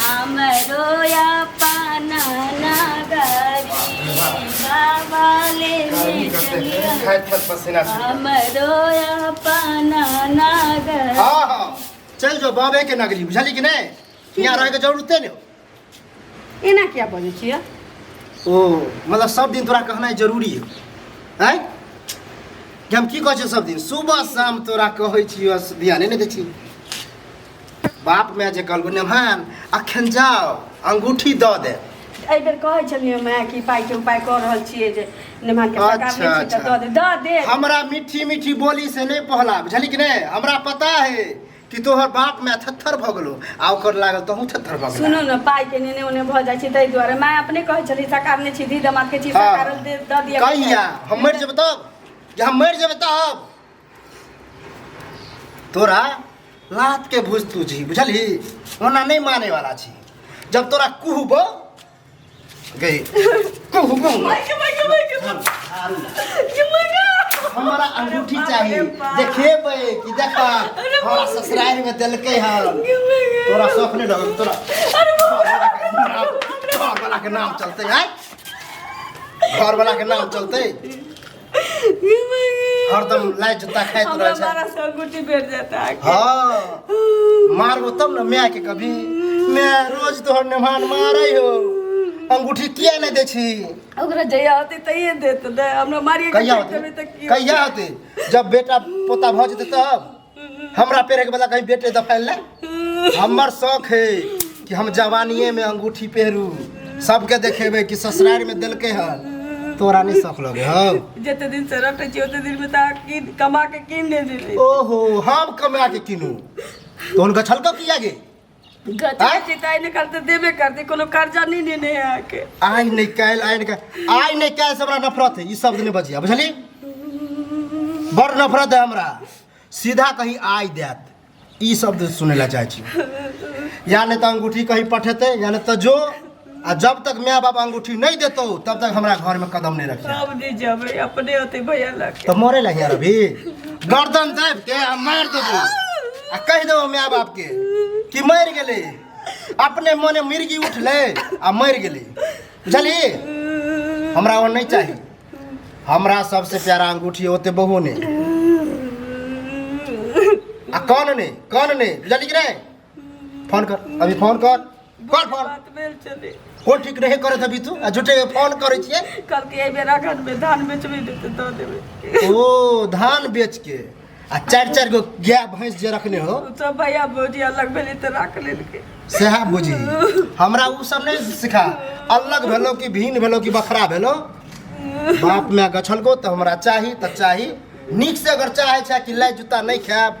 हमरो अपन नगरिया वाले गर्मी करते हैं मिटनिया खाए फल पसीना से हमरो अपन नगर हाँ हाँ चल जो बाबे के नगरी बुझली कि नहीं यहाँ रहे के जरूरते नहीं एना किया बजै छियै ओ मतलब सब दिन तोरा कहनाइ जरूरी है हैं कि हम की कहै छियै सब दिन सुबह शाम तोरा कहै छियै ध्याने नहि दै छी बाप माय जे कहलको नेमान अखन जाओ अंगूठी द दे एहि बेर कहै छलियै माय कि पाइ के उपाय कऽ रहल छियै जे नेमान के सरकार अच्छा, नहि छै तऽ अच्छा। दऽ दे दऽ दे हमरा मीठी मीठी बोली से नहीं पहला बुझली कि नहीं हमरा पता है कि तोहर बाप माय थत्थर भ गेलो आ ओकर लागल तहूँ थत्थर भ गेल सुनो न पाइ के नेने ओने भऽ जाइ छै ताहि दुआरे माय अपने कहै छली सरकार नहि छी दी दमाद के छी सरकार दे- दऽ दिअ कहिया हम मरि जेबै तब जे हम मरि जेबै तब तोरा लात के भूज तू जी बुझलही ओना नहीं माने वाला छी जब तोरा कुहबो गई कुहू कुहू हमारा अंगूठी चाहिए देखेबे कि देखा हमारा ससुराल में देलके है तोरा शौक नहीं डर तोरा घर वाला के नाम चलते है घर वाला के नाम चलते हरदम लाइट जता खाइत हमरा रहे छै मारा से अंगूठी भेट जाता है हाँ मारबो तब ना माय के कभी मैं रोज तोहर नेमान मारै हो अंगूठी किया नहीं दै छी ओकरा जहिया होती तहिए देत ने हमरा मारिए कहिया होते तभी तक की कहिया होते जब बेटा पोता भऽ जेतै तब हमरा पेरे के बदला कहीं बेटे दफाइल ना हमर शौक है कि हम जवानिए में अंगूठी पहरू सबके देखेबे कि ससुराल में देलके ह तोरा नहीं शौक लगे हो जते दिन से रखै छी ओते दिन में तऽ किन कमा के किन दे देली ओहो हम कमा के किनू तो उनका छलको किया गे गति ताई ने करते देबे करते कोनो कर्जा नहीं नेने है आके आइ नै काल आइ नै काल आइ नै काल हमरा नफरत है ई शब्द नै बजिया बुझली बड़ नफरत है हमरा सीधा कहीं आइ देत ई शब्द सुनै ला चाहै छी या नै त अंगूठी कहीं पठेते या नै त जो आ जब तक माय बाप अंगूठी नहीं देतो तब तक हमरा घर में कदम नहीं रखिए अब नहीं जबे अपने होते भैया लग तो मरे लगे यार अभी गर्दन दाब के आ मार देबो आ कह देबो माय बाप के कि मर गेले अपने मने मिर्गी उठले आ मर गेले बुझली हमरा वो नहीं चाहिए हमरा सबसे प्यारा अंगूठी होते बहू ने आ कौन ने कौन ने बुझली कि नहीं फोन कर अभी फोन कर कर फोन बात भेल छलै हो ठीक रहे करत अभी तू आ झूठे के फोन करै छियै कहलकै एहि बेर अखन मे धान बेचबै ने तऽ दऽ देबै ओ धान बेच के आ चारि चारि गो गाय भैंस जे रखने हो सब भैया भौजी अलग भेलै तऽ राख लेलकै सएह बुझी हमरा उ सब नहि सिखा अलग भेलो कि भिन्न भेलो कि बखरा भेलो बाप माय गछलको तऽ हमरा चाही तऽ चाही नीकसँ अगर चाहै छै कि लाइ जूता नहि खायब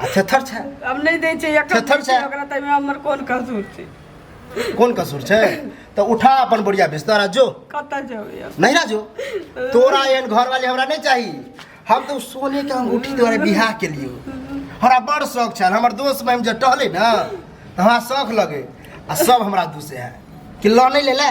आ थेथर छै हम नहि दै छै एकर थेथर छै। ओकरा तैमे हमर कोन कसूर छै कोन कसूर छै तऽ उठा अपन बुढ़िया बिस्तर आ जो कतऽ जेबै हम? नहिरा जो तोरा एहन घर वाले हमरा नहीं चाहिए हम तो सोने के अंगूठी द्वारा बियाह के लिए हमरा बड़ शौक छल हमर दोस्त में हम जब टहले ना तो हमरा शौक लगे आ सब हमरा दूसे है कि लऽ नहीं ले ले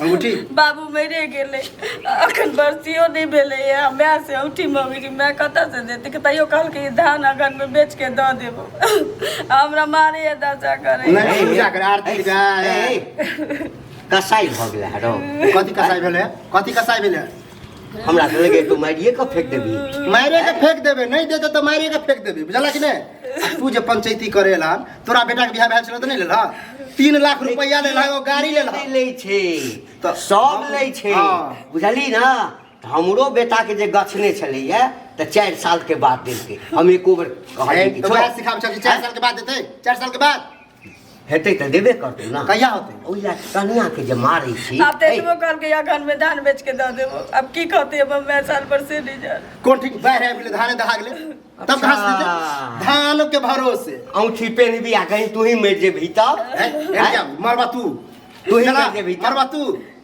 अंगूठी बाबू मरे गेलै अखन बरसियो नहि भेलैए माय से औठी मम्मीके माय कतऽसँ देतै कि तैयो कहलकै ई धान अगहनमे बेच के दऽ देबो आ हमरा मारैए दशा करै नहि पूजा करे आरती गाय कसाई भऽ गेलै हरो कथी कसाई भेलै कथी कसाई भेलै हमरा से लगे तो मारिए के फेंक देबी मारे के फेंक देबे नहीं देते तो मारे के फेंक देबे बुझला कि नहीं आ तू जे पंचायती करे ला तोरा बेटा के बियाह भेल छलो त नहीं लेला तीन लाख रुपया लेला एगो गाड़ी लेला नहीं लै छै तऽ सब लै छै हँ। बुझली ना तऽ हमरो बेटा के जे गछने छलैया तऽ चारि साल के बाद देलकै हम एको बेर कहलियै कि तो छोड़। वह सिखाब छल चार साल के बाद देते चार साल के बाद हेतै तऽ देबे करतै ने कहिया होतै ओहि लए कनिया के जे मारै छी आब तऽ एतबो कहलकै अखन में धान बेच के दऽ देबो अब की कहते अब मैं साल पर से नहीं जा कोन ठीक बाहर आबि गेलै धाने दहा गेलै तब अच्छा। घास देतै धान के भरोसे औंठी पेन भी आ कहीं तू ही मेर जे भीतर हैं? हैं? मरबा तू तू ही चला, मर जेबही। मरबा तू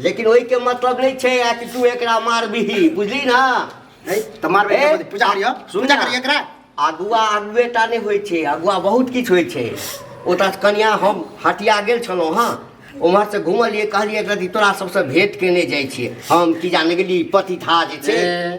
लेकिन ओहि के मतलब नहीं छे आ कि तू एकरा मारबीही बुझली ना नहीं तो मारबे ए, के पूजा करियो सुन पूजा ना। करियो एकरा अगुआ अगुए टा नहीं होइ छे अगुआ बहुत किछु होइ छे ओतऽ से कनिया हम हटिया गेल छलहुँ हँ उम्हर से घुमलियै कहलियै एकरा तोरा सबसँ भेंट केने जाइ छियै हम की जाने गेली पतिथा जे छै ए,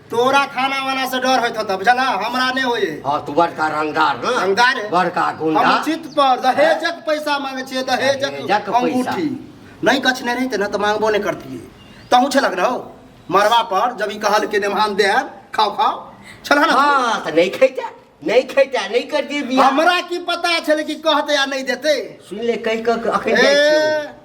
तोरा खाना वाना से डर होत होता बुझला हमरा नहीं होए हाँ तू बड़का रंगदार ना रंगदार है। बड़का हम गुंडा उचित पर दहेजक पैसा मांगे छिए दहेजक दहेजक पैसा। अंगूठी नहीं कछने रही ना तो मांगबो नहीं करती तहू छलक रहो मरवा पर जब ई कहल के देमान दे खाओ खाओ छलह ना हाँ तो नहीं खेता नहीं खेता नहीं कर दिए बिया हमरा की पता छले कि कहते या नहीं देते सुन ले कई कक अखन ए, जाइ छियो।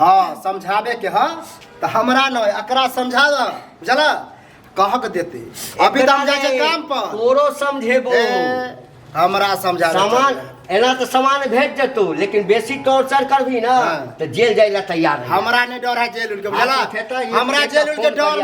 हाँ समझावे के ह त हमरा न एकरा समझा द बुझला कह के देते अभी त हम जाय छै काम पर तोरो समझेबो ए, हमरा समझा दे। सामान एना तो सामान भेज देतू लेकिन बेसी टॉर्चर करबी ना हाँ। तो जेल जाए ला तैयार रही। हमरा ने डर है जेल उनके बुझला हाँ, तो फेटा ये- हमरा ये जेल तो उनके फोन डर करिया।